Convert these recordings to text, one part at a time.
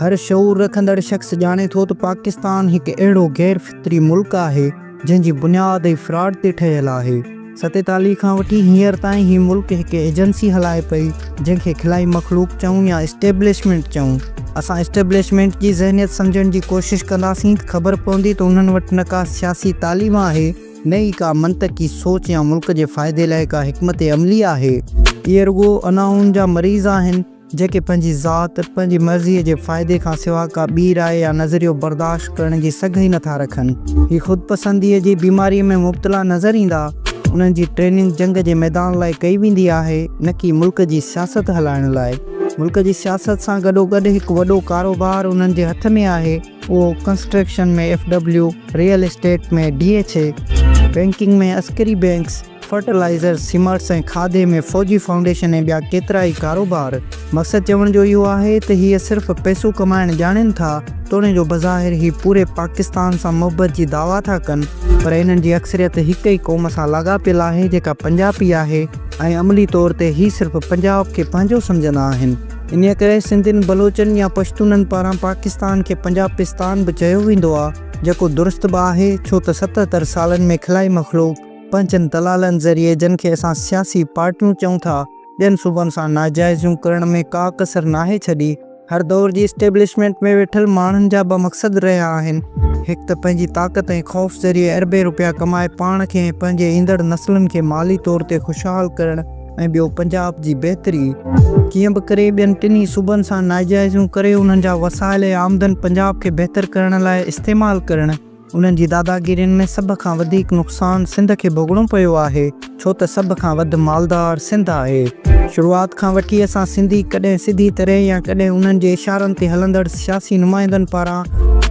هر شعور رکندڙ شخص ڄاڻي ٿو ته پاڪستان هڪ اهڙو غير فطري ملڪ آهي جنهن جي بنياد ئي فراڊ تي ٺهيل آهي. ستيتاليهه کان وٺي هينئر تائين هي ملڪ هڪ ايجنسي هلائي پئي جنهن کي خلائي مخلوق چئون يا اسٽيبلشمينٽ چئون. اسان اسٽيبلشمينٽ جي ذهنيت سمجهڻ جي ڪوشش ڪنداسين ته خبر پوندي ته انهن وٽ نه ڪا سياسي تعليم آهي، نه ئي ڪا منطقي سوچ يا ملڪ جي فائدي لاء ڪا حڪمت عملي آهي. اهي رڳو انائون جا مريض آهن، جيڪي پنهنجي ذات، پنهنجي مرضيء جي فائدي کان سوا ڪا ٻي راء يا نظريو برداشت ڪرڻ جي سگهه ئي نٿا رکن. هي خود پسنديء جي بيماريء ۾ مبتلا نظر ايندا. انهن جي ٽريننگ جنگ جي ميدان لاء ڪئي ويندي آهي، نه ڪي ملڪ جي سياست هلائڻ لاء. ملڪ جي سياست سان گڏوگڏ هڪ وڏو ڪاروبار انهن جي هٿ ۾ آهي. اهو construction ۾ F W, real estate ۾ D H A, banking ۾ Askari banks, فرٽلائيزرز، سيمارٽس ۽ کاڌي ۾ فوجي فائونڊيشن ۽ ٻيا ڪيترائي ڪاروبار. مقصد چوڻ جو اهو آهي ته هيء صرف پئسو ڪمائڻ ڄاڻين ٿا، توڻي جو بظاهر هي پوري پاڪستان سان محبت جي دعويٰ ٿا ڪن، پر انهن جي اڪثريت هڪ ئي قوم سان لاڳاپيل آهي جيڪا پنجاپي آهي ۽ عملي طور تي هي صرف پنجاب کي پنهنجو سمجهندا آهن. انهيء ڪري سنڌين، بلوچن يا پشتونن پاران پاڪستان کي پنجابستان به چيو ويندو آ، جيڪو درست به آهي، ڇو ته ستهتر سالن ۾ خلائي مخلوق، پنهنجن دلالن ذريعي جن کي اسان سياسي پارٽيون چئون ٿا، ٻين صوبن سان ناجائزيون ڪرڻ ۾ ڪا ڪسر ناهي ڇڏي. هر دور جي اسٽيبلشمينٽ ۾ ويٺل ماڻهن جا ٻه مقصد رهيا آهن، هڪ ته پنهنجي طاقت ۽ خوف ذريعي اربين روپيا ڪمائي پاڻ کي ۽ پنهنجي ايندڙ نسلن کي مالي طور تي خوشحال ڪرڻ، ۽ ٻيو پنجاب جي بهتري. ڪيئن به ڪري ٻين ٽنهي صوبن سان ناجائزيون ڪري انهن جا وسائل ۽ آمدن پنجاب کي بهتر ڪرڻ لاء استعمال ڪرڻ. انهن جي داداگيرين ۾ سڀ کان وڌيڪ نقصان سنڌ کي ڀوڳڻو پيو آهي ڇو ته سڀ کان وڌ مالدار سنڌ آهي. شروعات کان وٺي اسان سنڌي ڪڏهن سڌي طرح يا ڪڏهن انهن جي اشارن تي هلندڙ سنڌ. سياسي نمائندن پاران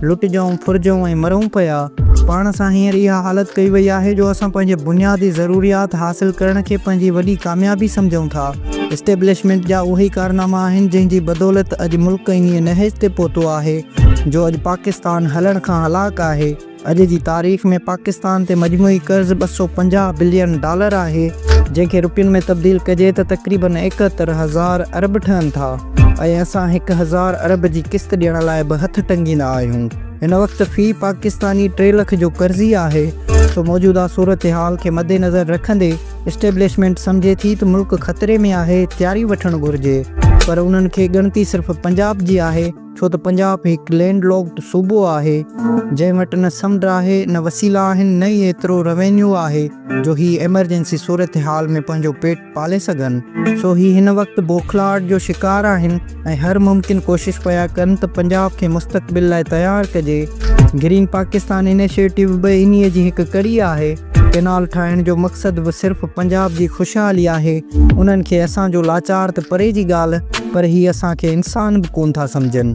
لٽجون، ڦرجون ۽ مرون پيا. پاڻ سان هينئر اها حالت ڪئي وئي آهي جو اسان پنهنجي بنيادي ضروريات حاصل ڪرڻ کي پنهنجي وڏي ڪاميابي سمجهون ٿا. اسٽيبلشمينٽ جا اهي ئي ڪارناما آهن جنهن جي بدولت اڄ ملڪ انهيء نهج تي پهتو آهي جو اڄ پاڪستان هلڻ کان هلاڪ آهي. اڄ جي تاريخ ۾ پاڪستان تي مجموعي قرض ٻه سؤ پنجاهه بلين ڊالر آهي، جنهن کي روپين ۾ تبديل ڪجي ته تقريبن ايڪهتر هزار ارب ٺهن ٿا ۽ اسان هڪ هزار ارب جي قسط ڏيڻ لاء به هٿ ٽنگيندا آهيون. هن وقت في پاڪستاني ٽي لک جو قرضي آهي، سو موجوده صورتحال کي مدنظر رکندي اسٽيبلشمينٽ سمجهي ٿي ته ملڪ خطري ۾ آهي، تياري وٺڻ گهرجي پر انهن کي ڳڻتي صرف پنجاب جي آهي. ڇو ته پنجاب هڪ لينڊ لاڪڊ صوبو آهي، جنهن وٽ نه سمنڊ آهي، نه وسيلا آهن، نه ئي ايترو روينيو آهي جو هي ايمرجنسي صورتحال ۾ پنهنجو پيٽ پالي سگهن. سو هي هن وقت بوکلاهٽ جو شڪار آهن ۽ هر ممڪن ڪوشش پيا ڪن ته پنجاب کي مستقبل لاء تيار ڪجي. گرين پاڪستان انيشيٽو به انهيء جي هڪ ڪڙي آهي. ڪئنال ٺاهڻ جو مقصد به صرف پنجاب جي خوشحالي آهي، انهن کي اسان جو لاچار ته پري جي ڳالهه پر هي اسان کي انسان به ڪون ٿا سمجهن.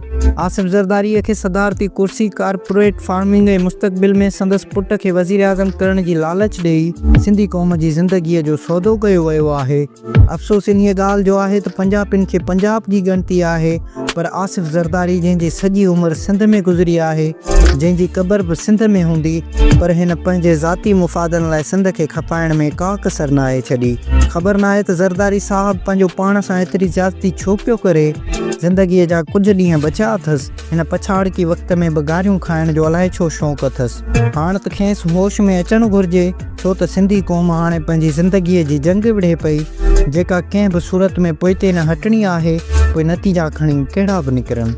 آصف زرداري کي صدارتي ڪرسي، ڪارپوريٽ فارمنگ ۽ مستقبل ۾ سندس پٽ کي وزيراعظم ڪرڻ جي لالچ ڏئي سنڌي قوم جي زندگيء جو سودو ڪيو ويو آهي. افسوس انهيء ڳالهه جو آهي ته پنجاپين کي پنجاب جي ڳڻتي آهي پر آصف زرداري جنهن جي سڄي عمر سنڌ ۾ گذري آهي، جنهن جي قبر به سنڌ ۾ هوندي پر هن پنهنجي ذاتي مفادن لاء سنڌ کي کپائڻ ۾ ڪا ڪسر ناهي ڇڏي. خبر ناهي ته زرداري صاحب پنهنجو پاڻ سان ايتري زيادتي ڇو پيو ڪري، زندگيء جا ڪجهه ڏينهن بچيا اٿس. هن پڇاڙڪي وقت ۾ به گاريون کائڻ جو الائي ڇو شوق اٿس. هاڻ ته کيس هوش ۾ اچڻ گهرجي، ڇو ته سنڌي قوم هاڻي پنهنجي زندگيء جي جنگ وڙهي پئي، جيڪا ڪنهن به صورت ۾ پوئتي نه هٽڻي آهي، پوء نتيجا کڻي ڪهڙا به نڪرن.